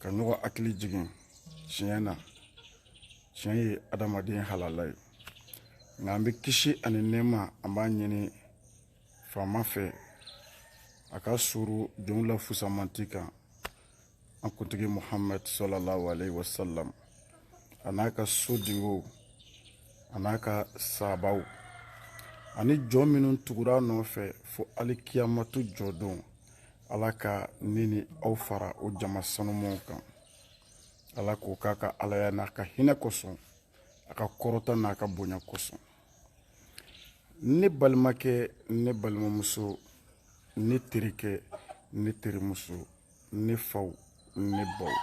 ka ɲɔgɔn hakili jigin tiɲɛ na tiɲɛ ye adamaden halala ye nka an bɛ kisi ani nɛɛma an b'a ɲini faama fɛ a ka suuru jɔnw la fusamanti kan an kuntigi muhamad salalahu alayhi wa sallam a n'a ka sodenw a n'a ka sabaw ani jɔn minnu tugura nɔfɛ fo alikiyamatu jɔdon ala ka ne ni aw fara o jama sanumaw kan ala k'o k'a ka alaya n'a ka hinɛ kosɔn a ka kɔrɔta n'a ka bonya kosɔn ne balimakɛ ne balimamuso ne terikɛ ne terimuso ne faw ne baw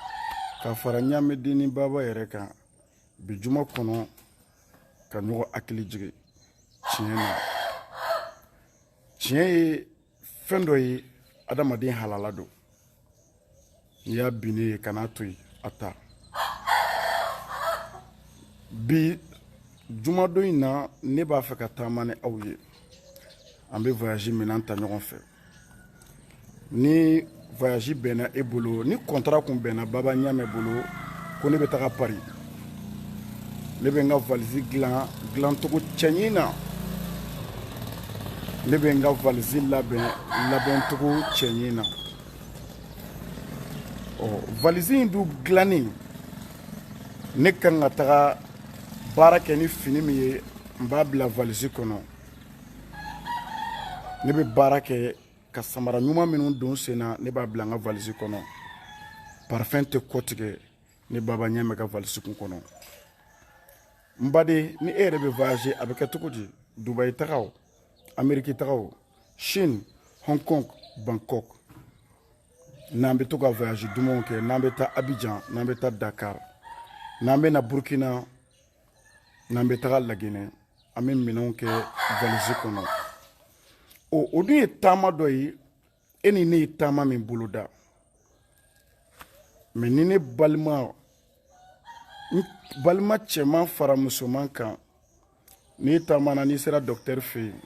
ka fara ɲamɛdenni baba yɛrɛ kan bi juma kɔnɔ ka ɲɔgɔn hakili jigin tiɲɛ na tiɲɛ ye fɛn dɔ ye adamaden halala don n'i y'a binnen ye kan'a to yen a ta bi jumadon in na ne b'a fɛ ka taama ni aw ye an bɛ voyage minɛn ta ɲɔgɔn fɛ ni voyage bɛnna e bolo ni kɔntara kun bɛnna baba ɲamɛ bolo ko ne bɛ taga pari ne bɛ n ka valisi dilan dilancogo cɛɲi na ne bɛ n ka valisi labɛn labɛncogo cɛɲi na ɔ valisi in dun dilanni ne kan ka taga baara kɛ ni fini min ye n b'a bila valisi kɔnɔ ne bɛ baara kɛ ka samara ɲuman minnu don sen na ne b'a bila n ka valisi kɔnɔ parfɛn tɛ kɔtigɛ ne baba ɲamɛ ka valisi kun kɔnɔ n baden ni e yɛrɛ bɛ voyage a bɛ kɛ cogo di dubayi tagaw ameriki tagaw chine hong kong bangkok n'an bɛ to ka voyage dumanw kɛ n'an bɛ taa abijan n'an bɛ taa dakar n'an bɛ na burkina n'an bɛ taga laginɛ an bɛ minɛnw kɛ valisi kɔnɔ o o dun ye taama dɔ ye e ni ne ye taama min boloda mais ni ne balima n balima cɛman fara musoman kan n'i taamana n'i sera dɔkitɛri fɛ yen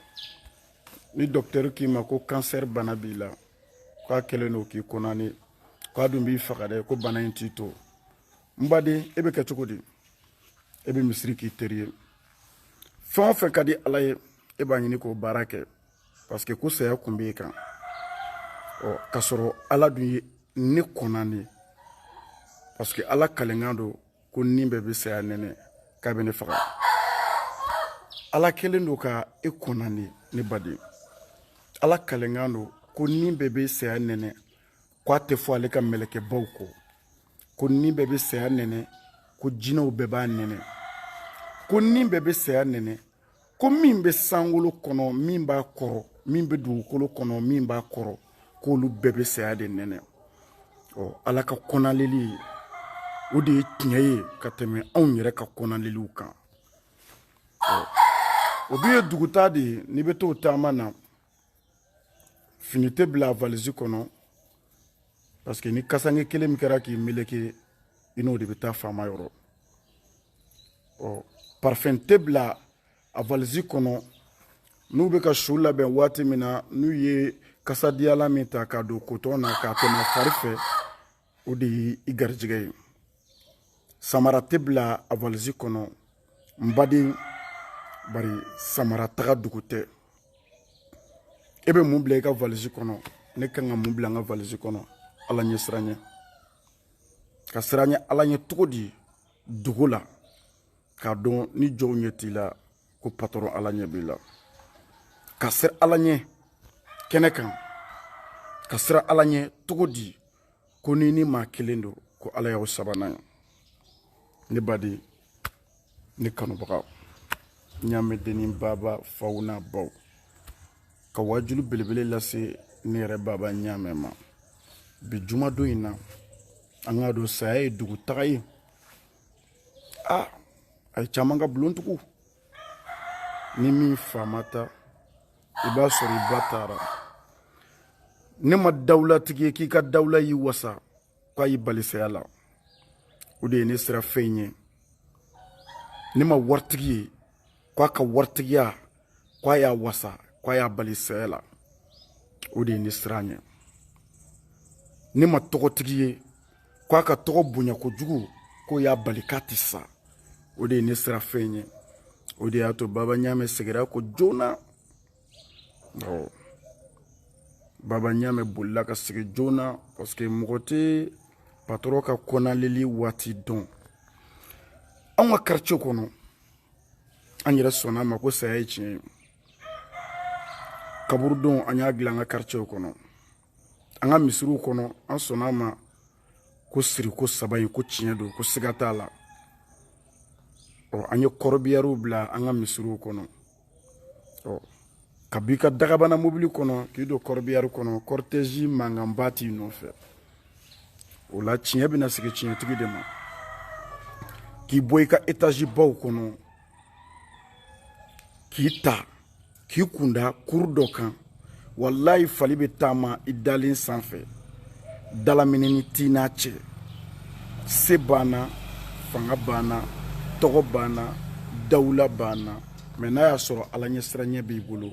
ni dɔkitɛri k'i ma ko kansɛri bana b'i la k'a kɛlen don k'i condamner k'a dun b'i faga dɛ ko bana in t'i to n baden e bɛ kɛ cogo di e bɛ misiri k'i teri ye fɛn o fɛn ka di ala ye e b'a ɲini k'o baara kɛ parce que ko saya kun b'e kan ɔ k'a sɔrɔ ala dun ye ne condamner parce que ala kalenkan don ko ni bɛɛ bɛ saya nɛnɛ k'a bɛ ne faga ala kɛlen don ka e condamner ne baden ala kalenkan don ko ni bɛɛ bɛ saya nɛnɛ ko a tɛ fɔ ale ka mɛlɛkɛbaw kɔ ko ni bɛɛ bɛ saya nɛnɛ ko jinɛw bɛɛ b'a nɛnɛ ko ni bɛɛ bɛ saya nɛnɛ ko min bɛ sankolo kɔnɔ min b'a kɔrɔ min bɛ dugukolo kɔnɔ min b'a kɔrɔ k'olu bɛɛ bɛ saya de nɛnɛ ɔ ala ka kɔnaleli o de ye tiɲɛ ye ka tɛmɛ anw yɛrɛ ka kɔnaleliw kan ɔ o dun ye dugutaa de ye n'i bɛ t'o taama na fini tɛ bila a valisi kɔnɔ parce que ni kasanke kelen min kɛra k'i meleke i n'o de bɛ taa faama yɔrɔ ɔ parfɛn tɛ bila a valisi kɔnɔ n'u bɛ ka su labɛn waati min na n'u ye kasadiyalan min ta k'a don kotɔn na k'a tɛmɛ a fari fɛ o de ye i garijɛgɛ ye samara tɛ bila a valisi kɔnɔ n baden bari samara taga dugu tɛ e bɛ mun bila i ka valisi kɔnɔ ne ka kan ka mun bila n ka valisi kɔnɔ ala ɲɛsiran ne ka siran ala ɲɛ cogo di dogo la k'a dɔn ni jɔn ɲɛ t'i la ko patɔrɔn ala ɲɛ b'i la ka siran ala ɲɛ kɛnɛ kan ka siran ala ɲɛ cogo di ko n'i ni maa kelen don ko ala y'aw sabanan ye ne baden ne kanubagaw ɲaamɛ dennin baba faw n'a baw ka waajulu belebele lase ne yɛrɛ baba ɲaamɛ ma bi jumadon in na an k'a dɔn saya ye dugutaga ye ah a ye caman ka bulon tugu ni min fa ma taa i b'a sɔrɔ i ba taara ne ma dawulatigi ye k'i ka dawula y'i wasa k'a y'i bali saya la o de ye ne siranfɛn ye ne ma waritigi ye k'a ka waritigiya k'a y'a wasa k'a y'a bali saya la o de ye ne siran ye ne ma tɔgɔtigi ye k'a ka tɔgɔ bonya kojugu k'o y'a bali k'a tɛ sa o de ye ne siranfɛn ye o de y'a to baba ɲaamɛ segira kɔ joona awɔ baba ɲaamɛ bolila ka segin joona parce que mɔgɔ tɛ patɔrɔn ka kɔnaleli waati dɔn anw ka quartier kɔnɔ an yɛrɛ sɔnna a ma ko saya ye tiɲɛ ye kaburudo an y'a dilan an ka karicɛw kɔnɔ an ka misiriw kɔnɔ an sɔnna a ma ko siri ko saba in ko tiɲɛ don ko siga t'a la ɔ an ye kɔrɔbiyariw bila an ka misiriw kɔnɔ ka b'i ka dagabana mobili kɔnɔ k'i don kɔrɔbiyari kɔnɔ kɔritɛzi mankanba t'i nɔfɛ o la tiɲɛ bɛna segin tiɲɛtigi de ma k'i bɔ i ka etazibaw kɔnɔ k'i ta k'i kun da kuru dɔ kan walayi fali bɛ taama i dalen sanfɛ dalaminɛni t'i n'a cɛ se b'an na fanga b'an na tɔgɔ b'an na dawula b'an na mɛ n'a y'a sɔrɔ ala ɲɛsiranɲɛ b'i bolo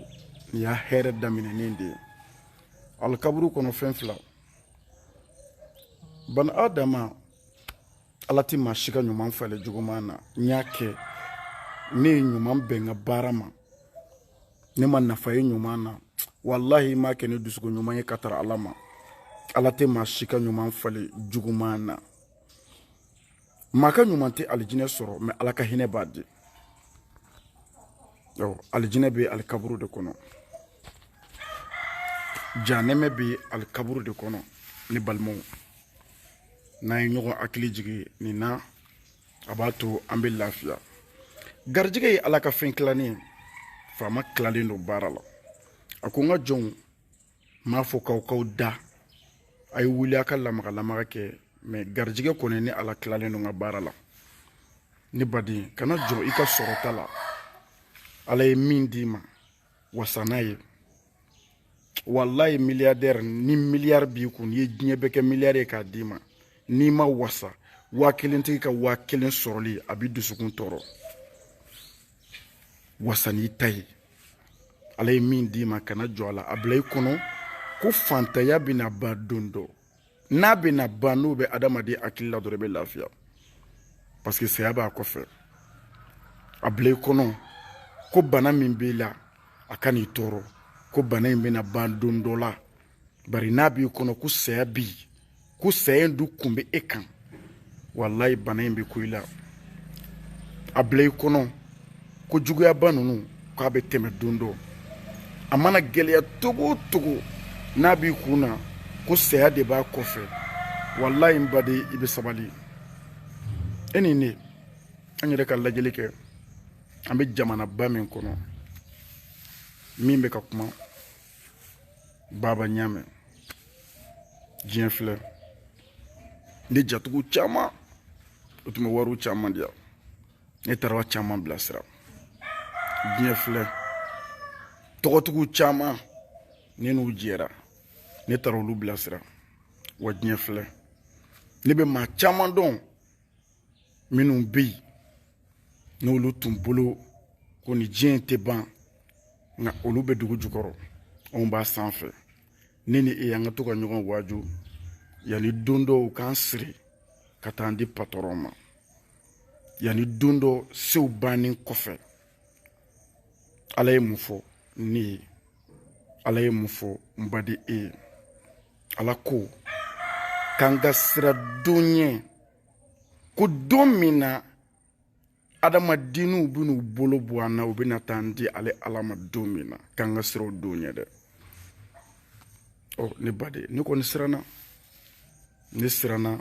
nin y'a hɛrɛ daminɛnen de ye alikaburu kɔnɔ fɛn fila bani adama ala ti maa si ka ɲuman falen juguman na n y'a kɛ ne ye ɲuman bɛn ka baara ma n'i ma nafa ye ɲuman na walahi i m'a kɛ ni dusukun ɲuman ye ka tara ala ma ala tɛ maa si ka ɲuman falen juguman na maa ka ɲuman tɛ alijinɛ sɔrɔ mɛ ala ka hinɛ b'a di alijinɛ bɛ alikaburu de kɔnɔ janɛmɛ bɛ alikaburu de kɔnɔ ne balimaw n'an ye ɲɔgɔn hakili jigin nin na a b'a to an bɛ lafiya garijɛgɛ ye ala ka fɛn tilalen ye faama tilalen don baara la a ko n ka jɔnw n m'a fɔ k'aw k'aw da a ye wuli a ka lamaga lamaga kɛ mɛ garijɛgɛ kɔni ne ala tilalen don n ka baara la ne baden kana jɔn i ka sɔrɔta la ala ye min d'i ma wasa n'a ye walayi miliyardɛri ni miliyari b'i kun n'i ye diɲɛ bɛɛ kɛ miliyari ye k'a d'i ma n'i ma wasa waa kelentigi ka waa kelen sɔrɔli a b'i dusukun tɔɔrɔ wasa n'i ta ye ala ye min d'i ma kana jɔn a la a bila i kɔnɔ ko fantanya bɛna ban don dɔ n'a bɛna ban n'o bɛ adamaden hakili la dɔrɔn i bɛ lafiya parce que saya b'a kɔfɛ a bila i kɔnɔ ko bana min b'i la a kan'i tɔɔrɔ ko bana in bɛna ban don dɔ la bari n'a b'i kɔnɔ ko saya b'i kɔ saya in dun kun bɛ e kan walayi bana in bɛ ko i la a bila i kɔnɔ ko juguyaba ninnu k'a bɛ tɛmɛ don dɔ a mana gɛlɛya togo o togo n'a b'i kun na ko saya de b'a kɔfɛ walayi n baden i bɛ sabali e ni ne an yɛrɛ ka lajɛli kɛ an bɛ jamanaba min kɔnɔ min bɛ ka kuma baba ɲamɛ diɲɛ filɛ ne jatigi caman o tun bɛ wariw caman di yan ne taara caman bilasira diɲɛ filɛ tɔgɔtigiw caman ne n'u jɛra ne taara olu bilasira wa diɲɛ filɛ ne bɛ maa caman dɔn minnu bɛ yen n'olu tun bolo ko ni diɲɛ in tɛ ban nka olu bɛ dugu jukɔrɔ anw b'a sanfɛ ne ni e an ka to ka ɲɔgɔn waaju yanni don dɔ u k'an siri ka taa an di patɔrɔn ma yanni don dɔ sew bannen kɔfɛ ala ye mun fɔ ne ye ala ye mun fɔ n baden e ye ala ko k'an ka siran don ɲɛ ko don min na adamadenninw bɛn'u bolo bɔ an na u bɛna taa an di ale ala ma don min na k'an ka siran o don ɲɛ dɛ ɔ ne baden ne kɔni siranna ne siranna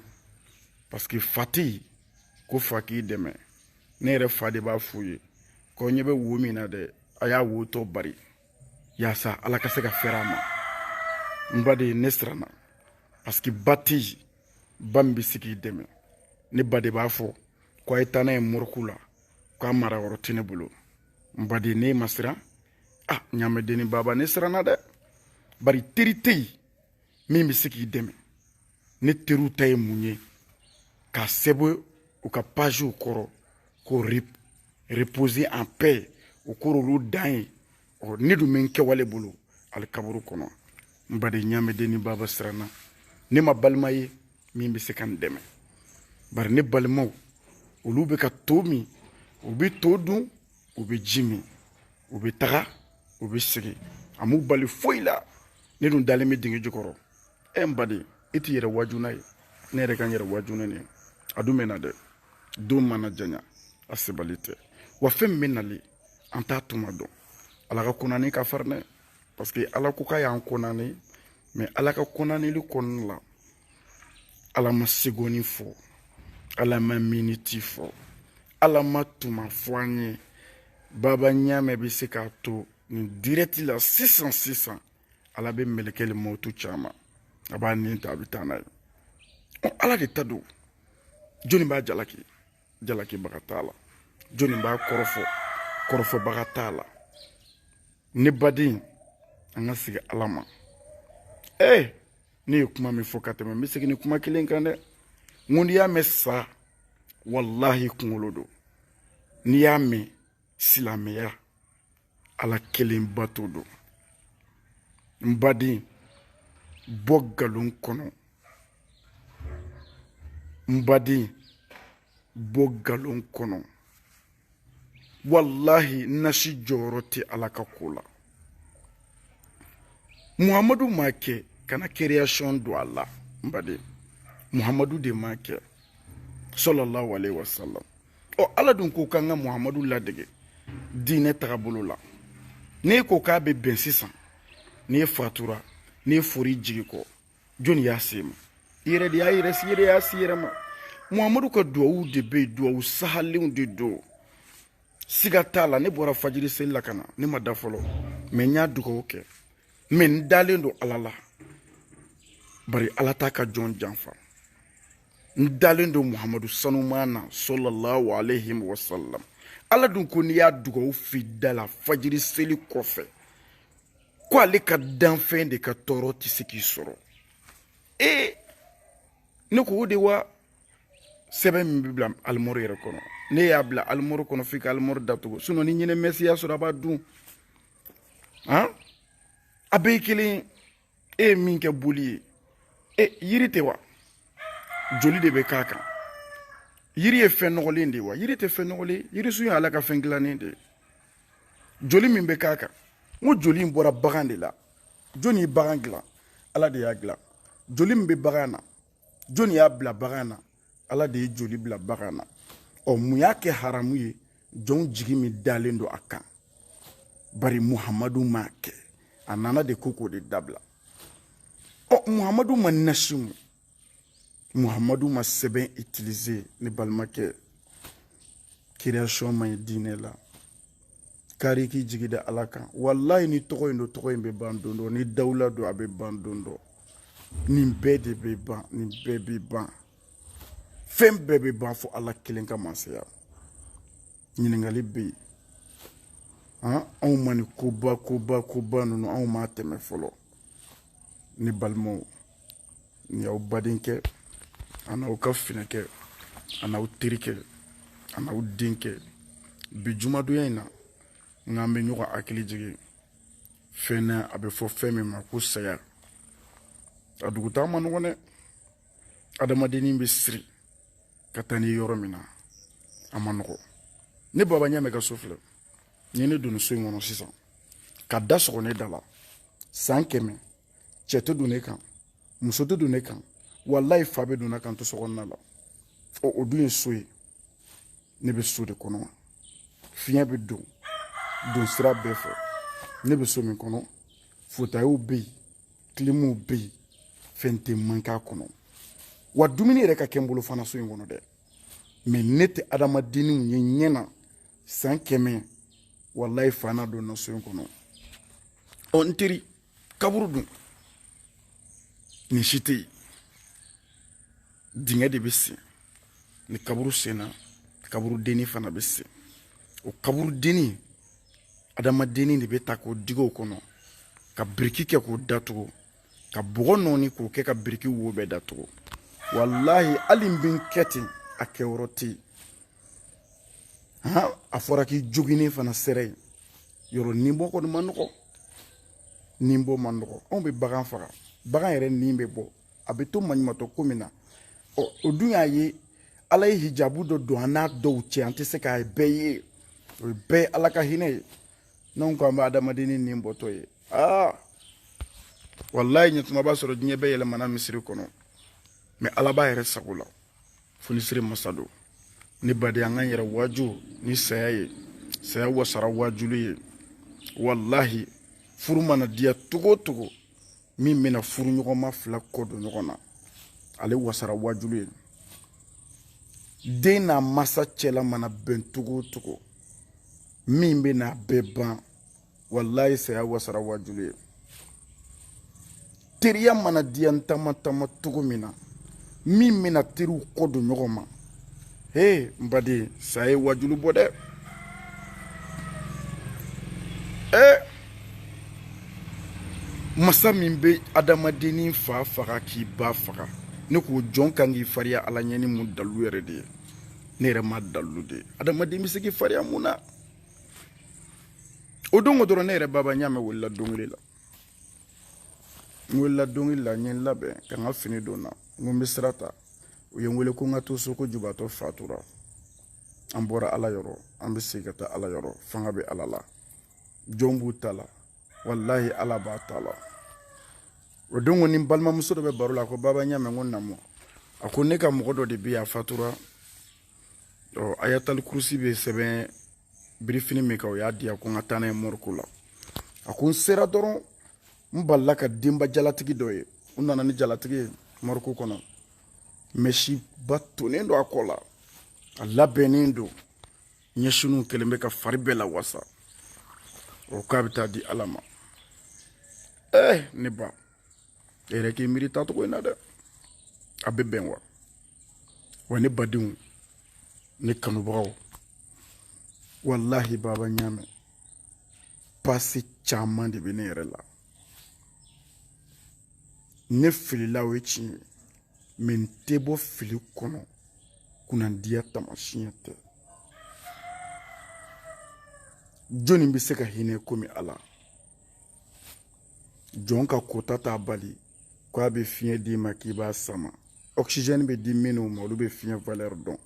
parce que fa tɛ ko fa k'i dɛmɛ ne yɛrɛ fa de b'a f'u ye ko ɲɛ bɛ wo min na dɛ a y'a wo tɔ bari yaasa ala ka se ka fɛɛrɛ a ma n baden ne siranna parce que ba tɛ yen ba min bɛ se k'i dɛmɛ ne ba de b'a fɔ ko a ye taa n'a ye morgue la k'a mara yɔrɔ tɛ ne bolo n baden ne ma siran a ah, ɲaamɛdenni baba ne siranna dɛ bari teri tɛ yen min bɛ se k'i dɛmɛ ne teriw ta ye mun ye k'a sɛbɛn u ka paziw kɔrɔ ko reposer en paix o kɛr'olu dan ye ɔ ne dun bɛ n kɛwale bolo ali kaburu kɔnɔ n baden ɲaamɛdenni baba siranna ne ma balima ye min bɛ se ka n dɛmɛ bari ne balimaw olu bɛ ka te min u bɛ to dun u bɛ ji min u bɛ taga u bɛ segin a m'u bali foyi la ne dun dalen bɛ dingɛ jukɔrɔ ɛ n baden i t'i yɛrɛ waaju n'a ye ne yɛrɛ ka n yɛrɛ waaju n'a ye a dun bɛ na dɛ don mana janya a sebali tɛ wa fɛn min bɛ nali an t'a tuma dɔn ala ka kɔnɔni ka farin dɛ parce que ala ko k'a y'an kɔnɔni mɛ ala ka kɔnɔni kɔnɔna la ala ma segɔni fɔ ala ma miniti fɔ ala ma tuma fɔ an ye baba ɲaamɛ bɛ se k'a to nin dirɛti la sisan sisan ala bɛ mɛlɛkɛ le mɔtu ci a ma a b'a ni ta a bɛ taa n'a ye ala de ta don jɔnni b'a jalaki jalakibaga t'a la jɔnni b'a kɔrɔfɔ kɔrɔfɔbaga t'a la ne baden an ka segin ala ma ee eh, ne ye kuma min fɔ ka tɛmɛ n bɛ segin nin kuma kelen kan dɛ n ko n'i y'a mɛn sa walahi kunkolo don n'i y'a mɛn silamɛya ala kelen bato don n baden bɔ galon kɔnɔ n baden bɔ galon kɔnɔ walahi nasi jɔyɔrɔ tɛ ala ka ko la muhamadu m'a kɛ kana création don a la n baden muhamadu de m'a kɛ sallallahu alaihi wasallam ɔ ala dun ko k'an ka muhamadu ladege diinɛ tagabolo la n'e ko k'a bɛ bɛn sisan n'e fatura n'e fɔr'i jigi kɔ jɔni y'a s'e ma i yɛrɛ de y'a yɛrɛ s'i yɛrɛ y'a s'i yɛrɛ ma muhamadu ka duwawu de bɛ yen duwawu sahalenw de don siga t'a la ne bɔra fajiri seli la ka na ne ma da fɔlɔ mɛ n y'a dugawu kɛ mɛ n dalen don ala la bari ala t'a ka jɔn janfa n dalen don muhamadu sanuman na sallallahu alayhi wa sallam ala dun ko n'i y'a dugawu f'i da la fajiri seli kɔfɛ ko ale ka danfɛn de ka tɔɔrɔ tɛ se k'i sɔrɔ ee ne ko o de wa sɛbɛn min bɛ bila alimɔri yɛrɛ kɔnɔ ne y'a bila alimɔri kɔnɔ f'i ka alimɔri datugu sinɔn ni ɲinɛ mɛsi y'a sɔrɔ a b'a dun han a bɛɛ ye kelen ye e ye min kɛ boli ye e yiri tɛ wa joli de bɛ k'a kan yiri ye fɛn nɔgɔlen de ye wa yiri tɛ fɛn nɔgɔlen yirisun ye ala ka fɛn dilannen de ye joli min bɛ k'a kan n ko joli in bɔra bagan de la jɔni ye bagan dilan ala de y'a dilan joli min bɛ bagan na jɔni y'a bila bagan na ala de ye joli bila bagan na ɔ mun y'a kɛ haramu ye jɔnw jigi min dalen don a kan bari muhamadu m'a kɛ a nana de ko k'o de dabila ɔ muhamadu ma nasi mu muhamadu ma sɛbɛn utiliser ne balimakɛ création man ɲi diinɛ la kari k'i jigi da ala kan walayi ni tɔgɔ in don tɔgɔ in bɛ ban don dɔ ni dawula don a bɛ ban don dɔ nin bɛɛ de bɛ ban nin bɛɛ bɛ ban fɛn bɛɛ bɛ ban fɔ ala kelen ka masaya ɲininkali bɛ yen han anw ma nin koba koba koba ninnu anw m'a tɛmɛ fɔlɔ ne balimaw nin y'aw badenkɛ an'aw ka finɛkɛ an'aw terikɛ an'aw denkɛ bi jumadonya in na n k'an bɛ ɲɔgɔn hakili jigin fɛn na a bɛ fɔ fɛn min ma ko saya a dugutaa man nɔgɔn dɛ adamadennin bɛ siri ka taa ni yɔrɔ min na a ma nɔgɔ ne baba ɲamɛ ka so filɛ ni ne donna so in kɔnɔ sisan ka da sɔgɔ ne da la san kɛmɛ cɛ tɛ don ne kan muso tɛ don ne kan walayi fa bɛ don ne ka n to so kɔnɔna la ɔ o dun ye so ye ne bɛ so de kɔnɔ fiɲɛ bɛ don don sira bɛɛ fɛ ne bɛ so min kɔnɔ fotayiw bɛ yen kilimuw bɛ yen fɛn tɛ mank'a kɔnɔ wa dumuni yɛrɛ ka kɛ n bolo fana so in kɔnɔ dɛ mɛ ne tɛ adamadenninw ye ɲɛ na san kɛmɛ walayi fa na don n na so in kɔnɔ ɔ n teri kaburu dun nin si tɛ yen dingɛ de bɛ sen ni kaburu senna kaburu denni fana bɛ sen o kaburu denni adamadenni de bɛ ta k'o digi o kɔnɔ ka biriki kɛ k'o datugu ka bɔgɔ nɔɔni k'o kɛ ka biriki wo bɛɛ datugu walahi hali n bɛ n kɛ ten a kɛyɔrɔ tɛ yen han a fɔra k'i joginnen fana sera yen yɔrɔ ni bɔ kɔni ma nɔgɔ ni bɔ ma nɔgɔ anw bɛ bagan faga bagan yɛrɛ ni bɛ bɔ a bɛ to maɲumatɔ ko min na ɔ o dun y'a ye ala ye hijabu dɔ don an n'a dɔw cɛ an tɛ se k'a bɛɛ ye o ye bɛɛ ye ala ka hinɛ ye n'anw ko an bɛ adamadennin ni bɔtɔ ye aa walayi ɲɛtuma b'a sɔrɔ diɲɛ bɛɛ yɛlɛmana misiri kɔnɔ mɛ ala b'a yɛrɛ sago la fonisiri masa don n baden an k'an yɛrɛ waaju ni saya ye saya wasara waajuli ye walahi furu mana diya cogo o cogo min bɛna furuɲɔgɔnma fila kɔ don ɲɔgɔn na ale wasara waajuli ye den n'a masa cɛla mana bɛn cogo o cogo min bɛn'a bɛɛ ban walayi saya wasara waajuli ye teriya mana diya n taama taama cogo min na min bɛna teriw kɔ don ɲɔgɔn ma he n baden saya ye waajuli bɔ dɛ ee masa min bɛ adamadennin fa faga k'i ba faga ne k'o jɔn kan k'i fariya ala ɲɛ ni mun dalu yɛrɛ de ye ne yɛrɛ ma dalu de ye adamaden bɛ se k'i fariya mun na o don ko dɔrɔn ne yɛrɛ baba ɲamɛ welela dɔnkili la n welela dɔnkili la n ye n labɛn ka n ka fini don n na n ko n bɛ sira ta u ye n wele ko n ka to so ko jubaatɔ fatura an bɔra ala yɔrɔ an bɛ segin ka taa ala yɔrɔ fanga bɛ ala la jɔn b'u ta la walahi ala b'a ta la o don kɔni n balimamuso dɔ bɛ baro la ko baba ɲamɛ n ko namu a ko ne ka mɔgɔ dɔ de bɛ yan a fatura ɔ ayatali kurusi bɛ sɛbɛn birifini min kan o y'a diya ko n ka taa n'a ye mɔriko la a ko n sera dɔrɔn n balala ka denba jalatigi dɔ ye u nana ni jalatigi ye mɔriko kɔnɔ mɛsiba tonnen don a kɔ la a labɛnnen don ɲɛsiniw kɛlen bɛ ka fari bɛɛ la wasa o k'a bɛ taa di ala ma ɛɛ eh, ne ba e yɛrɛ k'i miiri taacogo in na dɛ a bɛ bɛn wa wa ne badenw ne kanubagaw walahi baba ɲaamɛ passé caman de bɛ ne yɛrɛ la ne filila o ye tiɲɛ ye mɛ n tɛ bɔ fili kɔnɔ kunnandiya taamasiyɛn tɛ jɔnni bɛ se ka hinɛ komi ala jɔn ka kota t'a bali k'a bɛ fiɲɛ d'i ma k'i b'a sama oxygène bɛ di minnu ma olu bɛ fiɲɛ valeur dɔn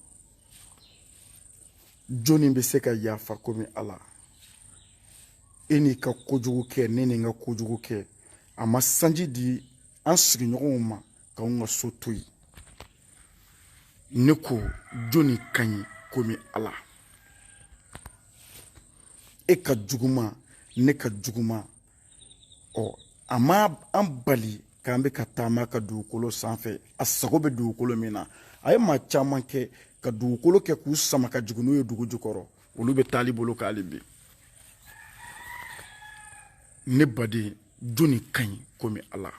jɔnni bɛ se ka yafa komi ala e n'i ka kojugu kɛ ne ni n ka kojugu kɛ a ma sanji di an sigiɲɔgɔnw ma k'anw ka so to yen ne ko jɔnni ka ɲi komi ala e ka juguman ne ka juguman ɔ a ma an bali k'an bɛ ka taama a ka dugukolo sanfɛ a sago bɛ dugukolo min na a ye maa caman kɛ ka dugukolo kɛ k'u sama ka jigin n'u ye dugu jukɔrɔ olu bɛ taali bolo hali bi ne baden jɔnni ka ɲi komi ala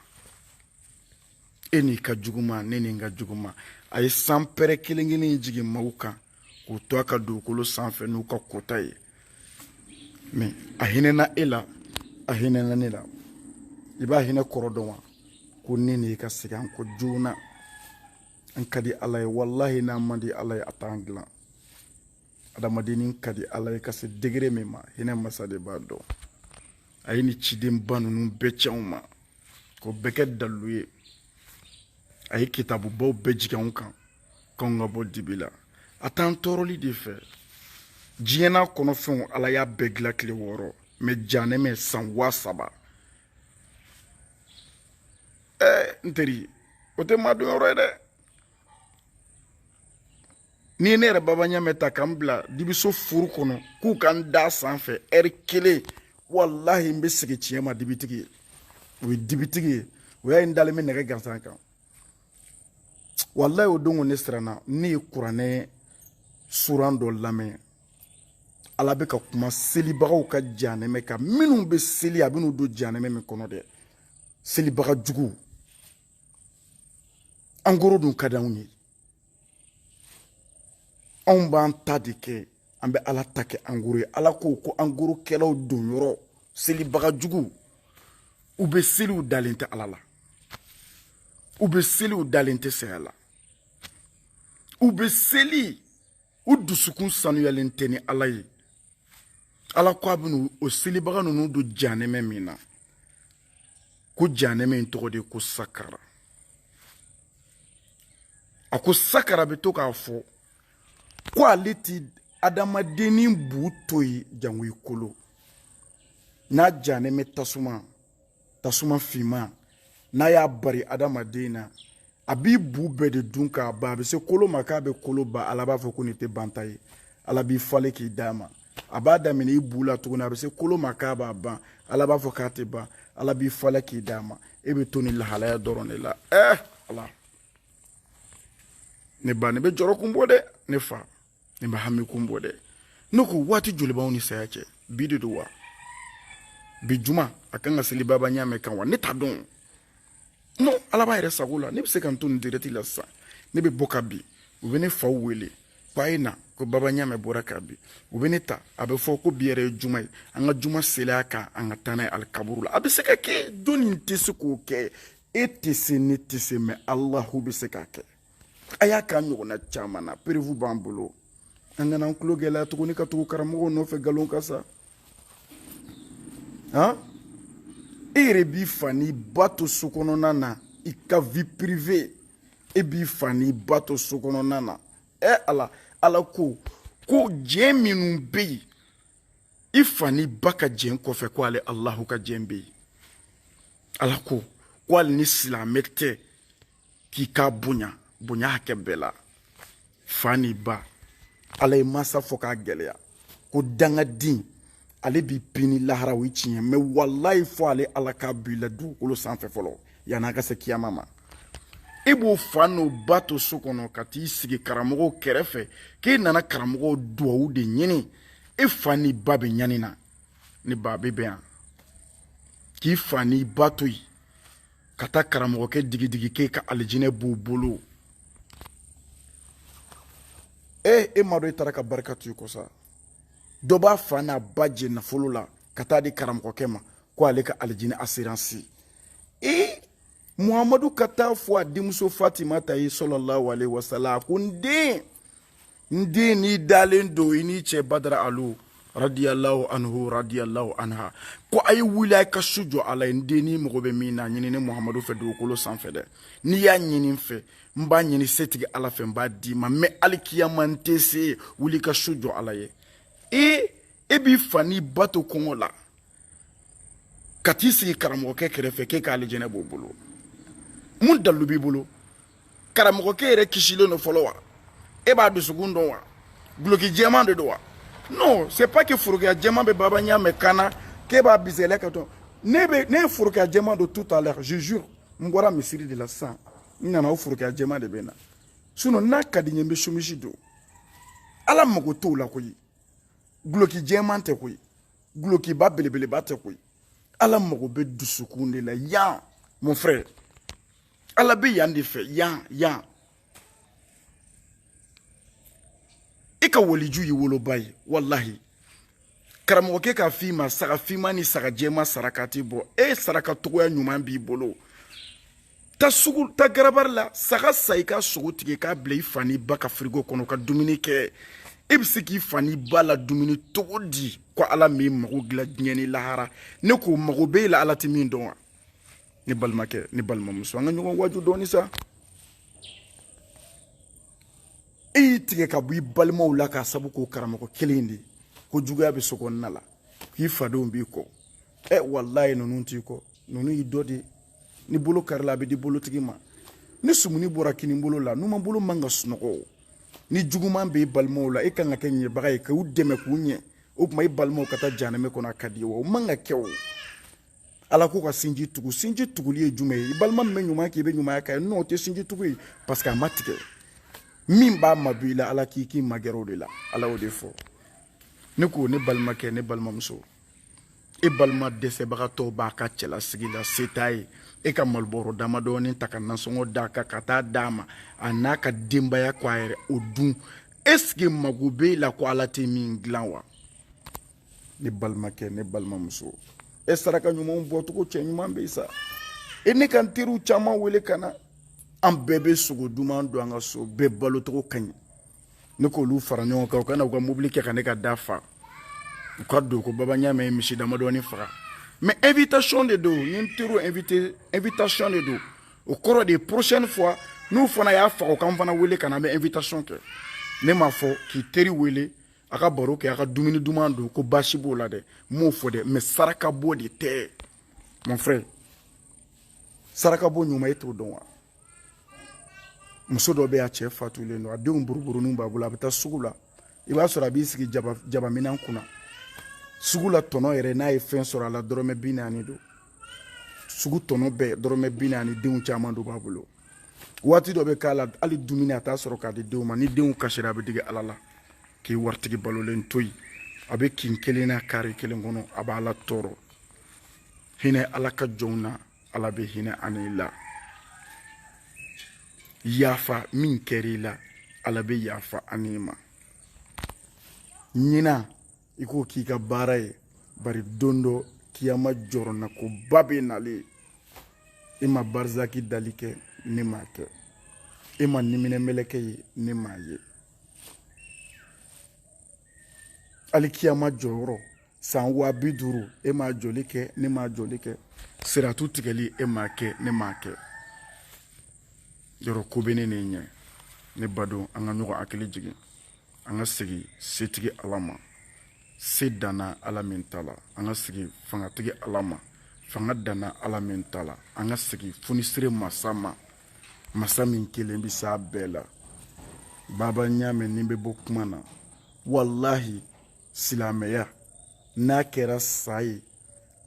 e n'i ka juguman ne ni n ka juguman a ye sanpɛrɛn kelen kelen jigin maaw kan k'u to a ka dugukolo sanfɛ n'u ka kota ye mɛ a hinɛna e la a hinɛna ne la i b'a hinɛ kɔrɔ dɔn wa ko ne ni i ka segin an kɔ joona an ka di ala ye walahi n'an man di ala ye a t'an dilan adamadennin ka di ala ye ka se degere min ma hinɛ masa de b'a dɔn a ye nin cidenba ninnu bɛɛ ci anw ma k'o bɛɛ kɛ dalilu ye a ye kitabubaw bɛɛ jigin anw kan k'anw ka bɔ dibi la a t'an tɔɔrɔli de fɛ diɲɛ n'a kɔnɔ fɛnw ala y'a bɛɛ dilan tile wɔɔrɔ mɛ janɛmɛ san waa saba ɛɛ n teri o tɛ maa donyɔrɔ ye dɛ n'i ye ne yɛrɛ baba ɲamɛ ta ka n bila dibiso furu kɔnɔ k'u ka n da sanfɛ ɛri kelen walahi n bɛ segin tiɲɛ ma dibitigi ye o ye dibitigi ye o y'a ye n dalen bɛ nɛgɛ gansan kan walayi o don ko ne siranna ne ye kuranɛ suran dɔ lamɛn ala bɛ ka kuma selibagaw ka janɛmɛ kan minnu bɛ seli a bɛn'u don janɛmɛ min kɔnɔ dɛ selibaga juguw an koro dun ka di anw ye anw b'an ta de kɛ an bɛ ala ta kɛ angoro ye ala ko ko angoro kɛlaw don yɔrɔ selibaga jugu u bɛ seli u dalen tɛ ala la u bɛ seli u dalen tɛ saya la u bɛ seli u dusukun sanuyalen tɛ ni ala ye ala ko a bɛna o selibaga ninnu don janɛmɛ min na ko janɛmɛ in tɔgɔ de ko sakara a ko sakara bɛ to k'a fɔ ko ale ti adamadennin bu to yen jango i kolo n'a janɛmɛ tasuma tasuma finman n'a y'a bari adamaden na a b'i bu bɛɛ de dun k'a ban a bɛ se kolo ma k'a bɛ kolo ban ala b'a fɔ ko nin tɛ banta ye ala b'i falen k'i d'a ma a b'a daminɛ i bu la tuguni a bɛ se kolo ma k'a b'a ban ala b'a fɔ k'a tɛ ban ala b'i falen k'i d'a ma e bɛ to nin lahalaya dɔrɔn de la ɛɛ eh, ala ne ba ne bɛ jɔrɔ kun bɔ dɛ ne fa ne bɛ hami kun bɔ dɛ ne ko waati joli b'anw ni saya cɛ bi de don wa bi juma a kan ka seli baba ɲamɛ kan wa ne t'a dɔn no ala b'a yɛrɛ sago la ne bɛ se ka n to nin dirɛti la sisan ne bɛ bɔ ka bin u bɛ ne faw wele ko a ye na ko baba ɲamɛ bɔra ka bin u bɛ ne ta a bɛ fɔ ko bi yɛrɛ ye juma ye an ka juma seli a kan an ka taa n'a ye alikaburu la a bɛ se ka kɛ don nin tɛ se k'o kɛ e tɛ se ne tɛ se mɛ alahu bɛ se k'a kɛ a y'a k'a ɲɔgɔnna caman na perewu b'an bolo an kana an tulo gɛlɛya tuguni ka tugu karamɔgɔw nɔfɛ nkalon ka sa han e yɛrɛ b'i fa n'i ba to so kɔnɔna na i ka vie privée e b'i fa n'i ba to so kɔnɔna na ɛ ala ala ko ko jɛn minnu bɛ yen i fa n'i ba ka jɛn kɔfɛ ko ale alahu ka jɛn bɛ yen ala ko ko hali ni silamɛ tɛ k'i k'a bonya bonya hakɛ bɛɛ la fa ni ba ala ye mansa fɔ k'a gɛlɛya ko dangaden ale b'i pini lahara o ye tiɲɛ mɛ walayi fɔ ale ala k'a b'i la dugukolo sanfɛ fɔlɔ yanni a ka se kiyama ma e b'o fa n'o ba to so kɔnɔ ka t'i sigi karamɔgɔw kɛrɛfɛ k'e nana karamɔgɔw duwawu de ɲini e fa n'i ba bɛ ɲani na ni ba bɛ bɛn yan k'i fa n'i ba to yen ka taa karamɔgɔkɛ digidigi k'e ka alijinɛ b'u bolo ee e m'a dɔn e taara ka barika to i kɔ sa dɔ b'a fa n'a ba jɛ nafolo la ka taa di karamɔgɔkɛ ma ko ale ka alijinɛ asiransi ee muhamadu ka t'a fɔ a denmuso fatimata ye sɔlɔlahu alehi wasala a ko n den n den n'i dalen don i n'i cɛ badara alu radiyallahu anhu radiyallahu anha ko a ye wuli a ye ka su jɔ ala ye n den n'i mago bɛ min na a ɲini ne muhamadu fɛ dugukolo sanfɛ dɛ n'i y'a ɲini n fɛ n b'a ɲini setigi ala fɛ n b'a d'i ma mɛ alikiyama n tɛ se wuli ka su jɔ ala ye ee e b'i fa n'i ba to kɔngɔ la ka t'i sigi karamɔgɔkɛ kɛrɛfɛ k'e ka alijɛnɛ b'o bolo mun dalilu b'i bolo karamɔgɔkɛ yɛrɛ kisilen don fɔlɔ wa e b'a dusukun dɔn wa guloki jɛman de don wa non c'est pas que forokiya jɛman bɛ baba ɲamɛ kan na k'e b'a bisɛlɛ ka dɔn ne bɛ ne ye forokiya jɛman don tout à l'heure je jure n bɔra misiri de la sisan n nana o forokiya jɛman de bɛ n na sinon n'a ka di n ye n bɛ somisi don ala mago t'o la koyi guloki jɛman tɛ koyi gulokiba belebeleba tɛ koyi ala mago bɛ dusukun de la yan mon frère ala bɛ yan de fɛ yan yan i e ka waliju y'i woloba ye walahi karamɔgɔkɛ k'a f'i ma saga finman ni saga jɛman sarakati bɔ e saraka togoya ɲuman b'i bolo taa sugu taa garabali la saga san i ka sogo tigɛ k'a bila i fa n'i ba ka firigo kɔnɔ ka dumuni kɛ e bɛ se k'i fa n'i ba ladumuni cogo di ko ala m'i mago dilan diɲɛ ni lahara ne ko mago b'e la ala tɛ min dɔn wa ne balimakɛ ne balimamuso an ka ɲɔgɔn waaju dɔɔni sa e y'i tigɛ ka bɔ i balimaw la k'a sabu k'o karamɔgɔ kelen in de ko juguya bɛ so kɔnɔna la k'i fadenw b'i kɔ ɛ walayi ninnu t'i kɔ ninnu y'i dɔ de ye ni bolo karila a bɛ di bolotigi ma ni sumuni bɔra kinin bolo la numan bolo man kan ka sunɔgɔ ni juguman bɛ i balimaw la e kan ka kɛ ɲɛbaga ye k'u dɛmɛ k'u ɲɛ o tuma i balimaw ka taa jahanama kɔnɔ a ka d'i ye wa o man ka kɛ o ala ko ka sinji tugu sinji tuguli ye jumɛn ye i balima min bɛ ɲuman kɛ i bɛ ɲumanya kɛ n'o tɛ sinji tugu ye parce que a ma tigɛ min b'a mabɔ i la ala k'i k'i magɛrɛ o de la ala y'o de fɔ ne ko ne balimakɛ ne balimamuso e balima dɛsɛbagatɔ b'a ka cɛlasigi la se t'a ye e ka malobɔrɔ damadɔɔni ta ka nasɔngɔ d'a kan ka t'a d'a ma a n'a ka denbaya ko a yɛrɛ o dun est-ce que mago b'e la ko ala tɛ min dilan wa ne balimakɛ ne balimamuso e saraka ɲumanw bɔcogo cɛ ɲuman bɛ sa e ne ka n teriw caman wele ka na an bɛɛ bɛ sogo duman dun an ka so bɛɛ balocogo ka ɲi ne k'olu fara ɲɔgɔn kan u ka na u ka mobili kɛ ka ne ka da fa u k'a dɔn ko baba ɲaamɛ ye misi damadɔni faga mais invitation de don n ye n teriw invité invitation de don o kɔrɔ de prochaine fois n'u fana y'a faga u k'an fana wele ka na an bɛ invitation kɛ ne m'a fɔ k'i teri wele a ka baro kɛ a ka dumuni duman dun ko baasi b'o la dɛ n m'o fɔ dɛ mais saraka bɔ de tɛ mon frère saraka bɔ ɲuman e t'o dɔn wa muso dɔ bɛ a cɛ fatulen don a denw buruburuninw b'a bolo a bɛ taa sugu la i b'a sɔrɔ a b'i sigi jaba jabaminan kunna sugu la tɔnɔ yɛrɛ n'a ye fɛn sɔrɔ a la dɔrɔmɛ bi naani don sugu tɔnɔ bɛɛ dɔrɔmɛ bi naani denw caman dɔ b'a bolo waati dɔ bɛ k'a la hali dumuni a t'a sɔrɔ k'a di denw ma ni denw kasira a bɛ digi ala la k'i waritigi balolen to yen a bɛ kin kelen na carré kelen kɔnɔ a b'ala tɔɔrɔ hinɛ ala ka jɔnw na ala bɛ hinɛ a n'i la yafa min kɛr'i la ala bɛ yafa a n'i ma ɲina i k'o k'i ka baara ye bari don dɔ kiyama jɔrɔnakoba bɛ nalen i ma barizaki dali kɛ ne m'a kɛ e ma niminɛ mɛlɛkɛ ye ne m'a ye hali kiyama jɔyɔrɔ san waa bi duuru e m'a jɔli kɛ ne m'a jɔli kɛ siratu tigɛli e m'a kɛ ne m'a kɛ yɔrɔ ko bɛ ne n'i ɲɛ ne badon an ka ɲɔgɔn hakili jigin an ka segin setigi ala ma se danna ala min ta la an ka segin fangatigi ala ma fanga danna ala min ta la an ka segin funisire masa ma masa min kelen bɛ s'a bɛɛ la baba ɲaamɛ ne bɛ bɔ kuma na walahi silamɛya n'a kɛra sa ye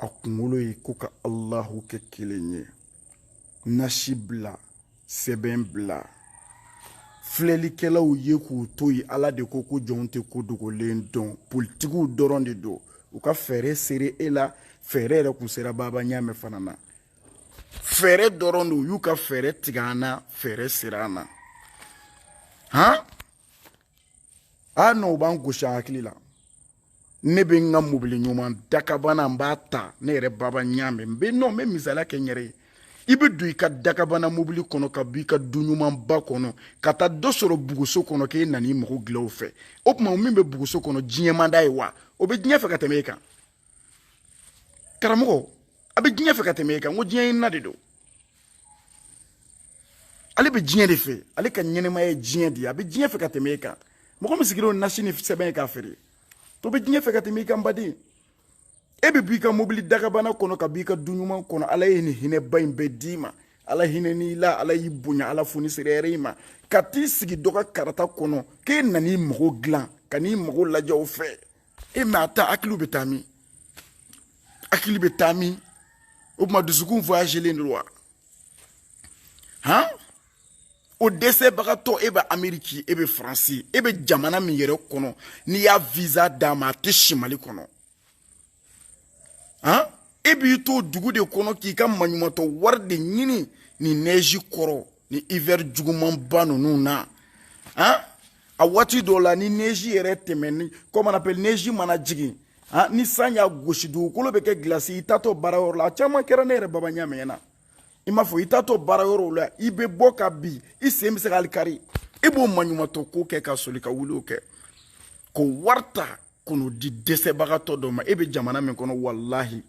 a kunkolo ye ko ka alahu kɛ kelen ye nasi bila sɛbɛn bila filɛlikɛlaw ye k'u to yen ala de ko ko jɔn tɛ ko dogolen dɔn politikiw dɔrɔn de don u ka fɛɛrɛ ser'e la fɛɛrɛ yɛrɛ kun sera baba ɲaamɛ fana na fɛɛrɛ dɔrɔn de u y'u ka fɛɛrɛ tigɛ an na fɛɛrɛ sera an na han a nɔ u b'an gosi a hakili la ne bɛ n ka mobili ɲuman dakabana n b'a ta ne yɛrɛ baba ɲaamɛ n bɛ nɔ n bɛ misaliya kɛ n yɛrɛ ye i bɛ don i ka dakabana mobili kɔnɔ ka bɔ i ka du ɲumanba kɔnɔ ka taa dɔ sɔrɔ buguso kɔnɔ k'e nana i mago dilan o fɛ o tuma min bɛ buguso kɔnɔ diɲɛ man d'a ye wa o bɛ diɲɛ fɛ ka tɛmɛ e kan karamɔgɔ a bɛ diɲɛ fɛ ka tɛmɛ e kan ko diɲɛ ye na de don ale bɛ diɲɛ de fɛ ale ka ɲɛnɛmaya ye diɲɛ de ye a bɛ diɲɛ fɛ ka tɛmɛ e kan mɔgɔ min sigilen don nasi ni sɛbɛn ye k'a feere o bɛ diɲɛ fɛ ka tɛmɛ i kan baden e bɛ b'i ka mobili dagabana kɔnɔ ka b'i ka du ɲuman kɔnɔ ala ye nin hinɛba in bɛɛ d'i ma ala hinɛn'i la ala y'i bonya ala fonisereyara i ma ka t'i sigi dɔ ka karata kɔnɔ k'e nan'i mago dilan ka n'i mago lajɛ o fɛ e mɛ a ta hakiliw bɛ taa min hakili bɛ taa min o tuma dusukun voyagelen don wa han o dɛsɛbagatɔ e bɛ ameriki e bɛ faransi e bɛ jamana min yɛrɛ kɔnɔ n'i y'a visa d'a ma a tɛ si mali kɔnɔ han e b'i to dugu de kɔnɔ k'i ka maɲumatɔ wari de ɲini ni neji kɔrɔ ni hiver jugumanba ninnu na han a waati dɔw la ni neji yɛrɛ tɛmɛni comme on appelle neji mana jigin han ni san y'a gosi dugukolo bɛ kɛ gilasi i taatɔ baara yɔrɔ la a caman kɛra ne yɛrɛ baba ɲamɛn na i n'a fɔ i taatɔ baara yɔrɔw la i bɛ bɔ ka bin i sen bɛ se ka hali kari i b'o maɲumatɔ ko kɛ ka soli ka wuli o kɛ k'o wari ta ka n'o di dɛsɛbagatɔ dɔ ma e bɛ jamana min kɔnɔ walahi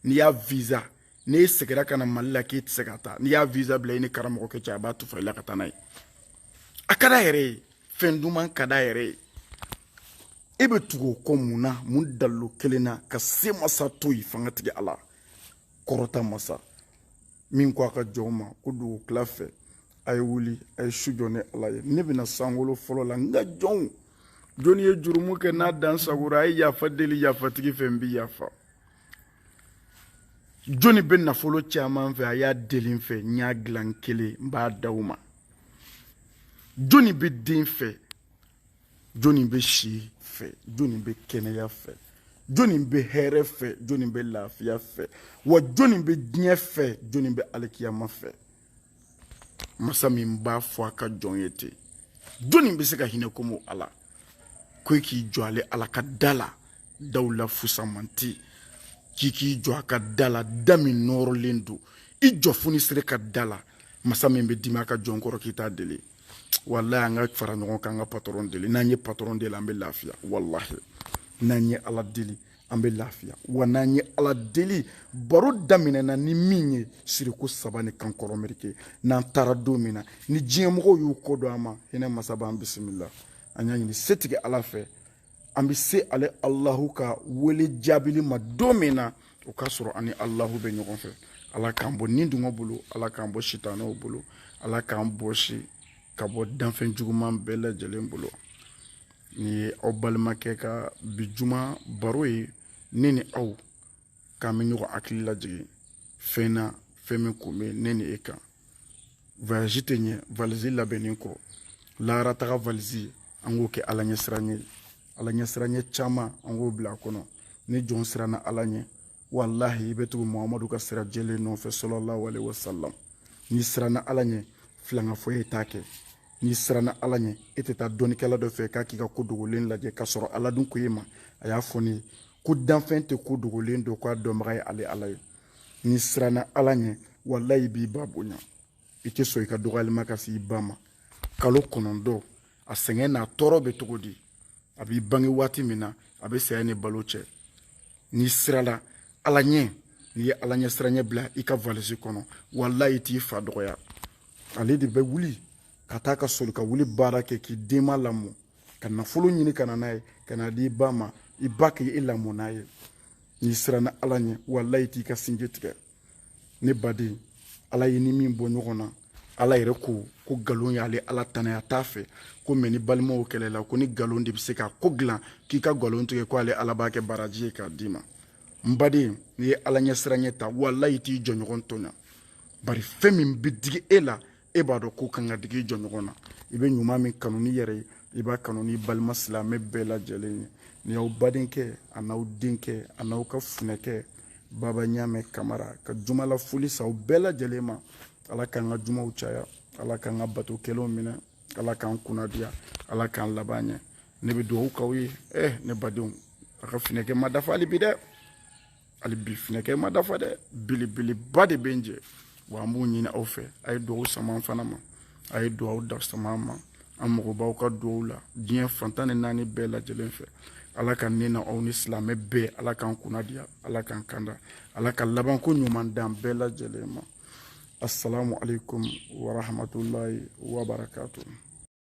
n'i y'a visa ni e segira ka na mali la k'e tɛ se ka taa n'i y'a visa bila i ni karamɔgɔkɛ cɛ a b'a tufa i la ka taa n'a ye a ka d'a yɛrɛ ye fɛn duman ka d'a yɛrɛ ye e bɛ tugu o kɔ mun na mun dalilu kelen na ka se masa to yen fangatigi ala kɔrɔta masa min ko a ka jɔnw ma ko dugu tila fɛ a ye wuli a ye su jɔ ne ala ye ne bɛ na sankolo fɔlɔ la n ka jɔnw jɔnni ye jurumu kɛ n'a dansagora a ye yafa deli yafatigi fɛ n bi yafa jɔnni bɛ nafolo caman fɛ a y'a deli n fɛ n y'a dilan n kelen n b'a d'aw ma jɔnni bɛ den fɛ jɔnni bɛ si fɛ jɔnni bɛ kɛnɛya fɛ jɔnni bɛ hɛrɛ fɛ jɔnni bɛ lafiya fɛ wa jɔnni bɛ diɲɛ fɛ jɔnni bɛ alikiyama fɛ masa min b'a fɔ a ka jɔn ye ten jɔnni bɛ se ka hinɛ komi ala ko e k'i jɔ ale ala ka da la daw la fusamanti k'i k'i jɔ a ka da la da min nɔɔrɔlen don i jɔ fonisere ka da la masa min bɛ dimi a ka jɔn kɔrɔ k'i t'a deli walahi an ka fara ɲɔgɔn kan an ka patɔrɔn deli n'an ye patɔrɔn deli an bɛ lafiya walahi n'an ye ala deli an bɛ lafiya wa n'an ye ala deli baro daminɛna ni min ye siriko saba ni kankɔrɔ merike n'an taara don min na ni diɲɛmɔgɔw y'u kɔ don an ma hinɛ masa b'an bisimila an y'a ɲini setigi ala fɛ an bɛ se ale alahu ka wele jaabili ma don min na o k'a sɔrɔ an ni alahu bɛ ɲɔgɔn fɛ ala k'an bɔ nidungɔ bolo ala k'an bɔ sitanɛw bolo ala k'an bɔsi ka bɔ danfɛn juguman bɛɛ lajɛlen bolo nin ye aw balimakɛ ka bi juma baro ye ne ni aw k'an bɛ ɲɔgɔn hakili lajigin fɛn na fɛn min kun bɛ ne ni e kan voyage tɛ ɲɛ valise labɛnnen kɔ lahara taga valise an k'o kɛ ala ɲɛ siran ye ala ɲɛ siranyɛ caman an k'o bila a kɔnɔ ni jɔn siranna ala ɲɛ walahi i bɛ tugu muhamadu ka sira jɛlen nɔfɛ sɔlɔlahu alehi wasalam n'i siranna ala ɲɛ filankafoya e t'a kɛ n'i siranna ala ɲɛ e tɛ taa dɔnnikɛla dɔ fɛ k'a k'i ka ko dogolen lajɛ k'a sɔrɔ ala dun ko e ma a y'a fɔ ne ye ko danfɛn tɛ ko dogolen dɔn k'a dɔnbaga ye ale ala ye n'i siranna ala ɲɛ walayi i b'i ba bonya i tɛ sɔn i ka dɔgɔyali ma ka se i ba ma kalo kɔnɔntɔn a sɛgɛn n'a tɔɔrɔ bɛ cogo di a b'i bange waati min na a bɛ saya ni balo cɛ n'i sirala ala ɲɛ n'i ye ala ɲɛ siranyɛ bila i ka valisi kɔnɔ walayi e t'i fa dɔgɔya ale de bɛ wuli ka taa ka soli ka wuli baara kɛ k'i denma lamɔ ka nafolo ɲini ka na n'a ye ka n'a di i ba ma i ba ka e lamɔ n'a ye n'i siranna ala ɲɛ walayi e t'i ka sinji tigɛ ne baden ala y'e ni min bɔ ɲɔgɔn na ala yɛrɛ ko ko nkalon y'ale ala tana ye a t'a fɛ ko mais ni balimaw kɛlɛla ko ni nkalon de bɛ se ka ko dilan k'i ka nkalon tigɛ ko ale ala b'a kɛ baraji ye k'a d'i ma n baden n'i ye ala ɲɛ siranyɛ ta walayi i t'i jɔnɲɔgɔn tɔɲa bari fɛn min bɛ digi e la e b'a dɔn k'o kan ka digi i jɔnɲɔgɔn na i bɛ ɲuman min kanu n'i yɛrɛ ye i b'a kanu n'i balima silamɛ bɛɛ lajɛlen ye ne y'aw badenkɛ a n'aw denkɛ a n'aw ka funɛkɛ baba ɲamɛ kamara ka jumala foli se aw bɛɛ lajɛlen ma ala k'an ka jumaw caya ala k'an ka bato kɛlenw minɛ ala k'an kunnadiya ala k'an laban ɲɛ ne bɛ dugawu k'aw ye eh ne badenw a ka funɛkɛ ma dafa hali bi dɛ hali bi finɛkɛ ma dafa dɛ belebeleba de bɛ n jɛ wa an b'o ɲini aw fɛ a ye dugawu sama an fana ma a ye dugawu da sama an ma an mago b'aw ka dugawu la diɲɛ fan tan ni naani bɛɛ lajɛlen fɛ ala ka ne n'aw ni silamɛ bɛɛ ala k'an kunna diya ala k'an kanda ala ka labanko ɲuman d'an bɛɛ lajɛlen ma assalamu alaikum warahmatullahi wabarakatuh